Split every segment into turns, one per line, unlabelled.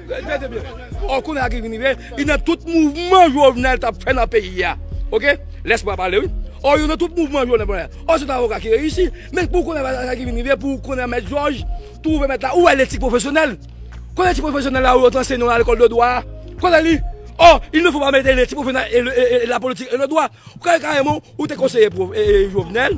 Tande byen, or kounye a ki vin rive, li nan tout mouvman Jovenel t ap fè nan peyi a. Ok! Lèspwa pale wi. Or yo nan tout mouvman Jovenel t ap fè. Or se t avoka ki reyisi. Men pou kounye a sa ki vin rive, pou kounye a mèt Jòj twouve mèt la, ou wè letik pwofesyonèl? Kote letik pwofesyonèl la ou yo te anseye nou nan lekòl de dwa a? Kote li? Or, il ne faut pas mele letik pwofesyonèl e la politik e le dwa. Ou ka wè kareman ou te konseye Jovenel.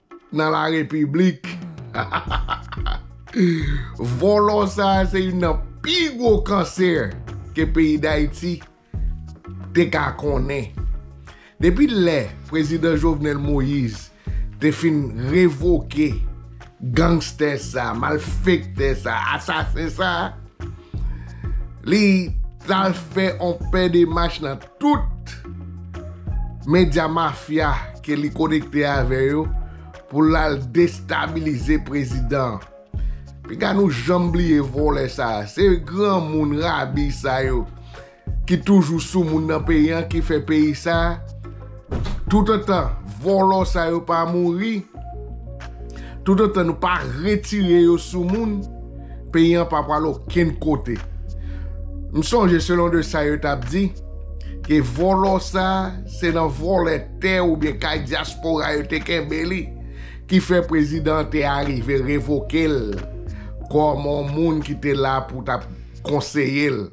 Nan la repiblik. Volo sa a se youn nan pi gwo cancer ke peyi d'Haiti te ka konnen. Depi lè prezidan Jovenel Moise te fin revoke gangster sa, malfekte sa, asasen sa, li tal fè on pè de mach nan tout medya mafya ke li konekte avè yo pou l al destabilize prezidan an. Piga nou janm bliye vòlè sa a. Se granmoun rabi sa yo ki toujou sou moun nan peyi an ki fè peyi sa a Tout otan volo sa yo pa mouri, tout otan nou pa retire yo sou moun, peyi an pa pwal okenn kote. M sonje selon de sa yo tap di, ke volo sa se nan volè tè ou byen kay diaspora yo te kenbe li, ki fè prezidan an te arive revoke l, kom on moun ki te la pou tap konseye l.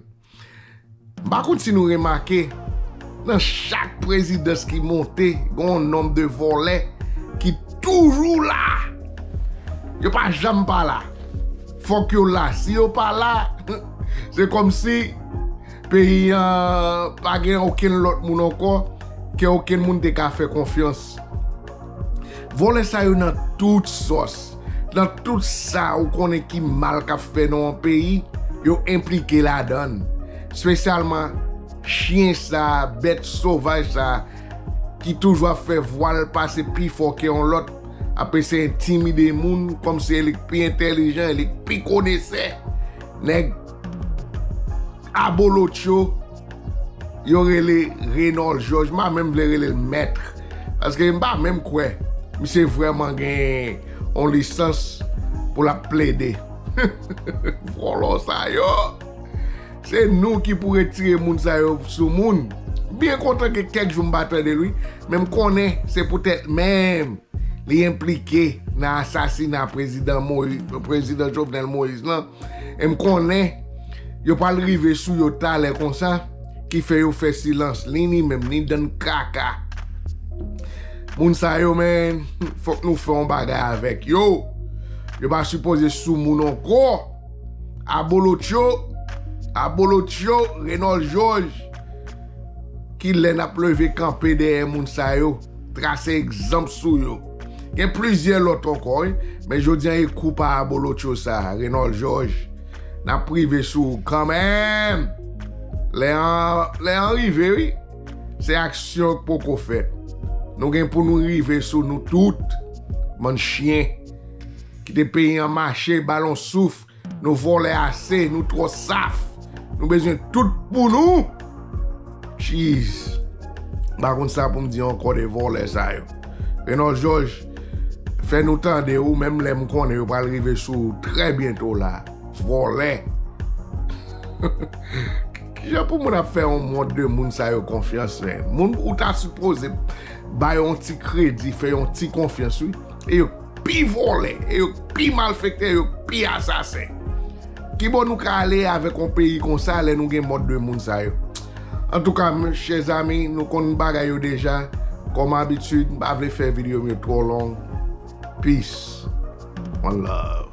M pa konn si nou remake, nan chak prezidans ki monte, gen yon nonb de vòlè ki toujou la. Yo pa janm pa la. Fòk yo la. Si yo pa la, se kòm si peyi an pa gen okenn lòt moun ankò ke okenn moun te ka fè konfyans. Vòlè sa yo nan tout sòs, nan tout sa ou konnen ki mal k ap fè nan yon peyi, yo enplike ladan l. Spesyalman chyen sa, bèt sovaj sa ki toujou ap fè vwa l pase pi fò ke yon lòt, ap eseye entimide moun kòm si e li k pi entèlijan, e li k pi konesè. Nèg abolotcho. Yo rele Reynold Georges, mpa menm vle rele l Maître, paske mpa menm kwè misye vrèman gen yon lisans pou lap plede. Vòlò sa yo! Se nou ki pou retire moun sa yo sou moun. Byen kontan gen kèk jou mpa tande l wi, men mkonnen se poutèt menm li enplike nan asasina prezidan Jovenel Moïse lan. E m konnen yo pral rive sou yo talè konsa ki fè yo fè silans ni ni menm ni dan kaka moun sa yo men fok nou fè yon bagay avek yo yo pa sipoze sou moun anko abolotcho abolotcho renòl jòj ki lè nap leve kanpe dèyè moun sa yo. Trase egzanp sou yo. Gen plizyè lòt ankò wi, men jodi an e kou pa abolotcho sa, Renòl Jòj, n ap rive sou ou kanmenm! Lè an, lè an rive wi! Se aksyon k poko fèt. Nou gen pou nou rive sou nou tout, bann chyen! Kite peyi an mache, ba l on soufl! Nou vòlè ase nou trò saf nou bezwen tout pou nou jeez m pa konn sa poum di ankò de vòlè sa yo Renold Jòj fè nou tande ou menm lè m konnen yo pral rive sou ou trè byento la vòlè kijan pou moun ap fè yon mond de moun sa yo konfyans men moun ou ta sipoze bay yon ti kredi fè yon ti konfyans wi e yo. k pi vòlè, e yo k pi malfektè, yo k pi asasen. Kibo nou ka ale avèk yon peyi konsa lè nou gen mòd de moun sa yo? Antouka m chè zami, nou konn bagay yo deja, kòm abitid m pa vle fè video m yo twò long. Peace one love.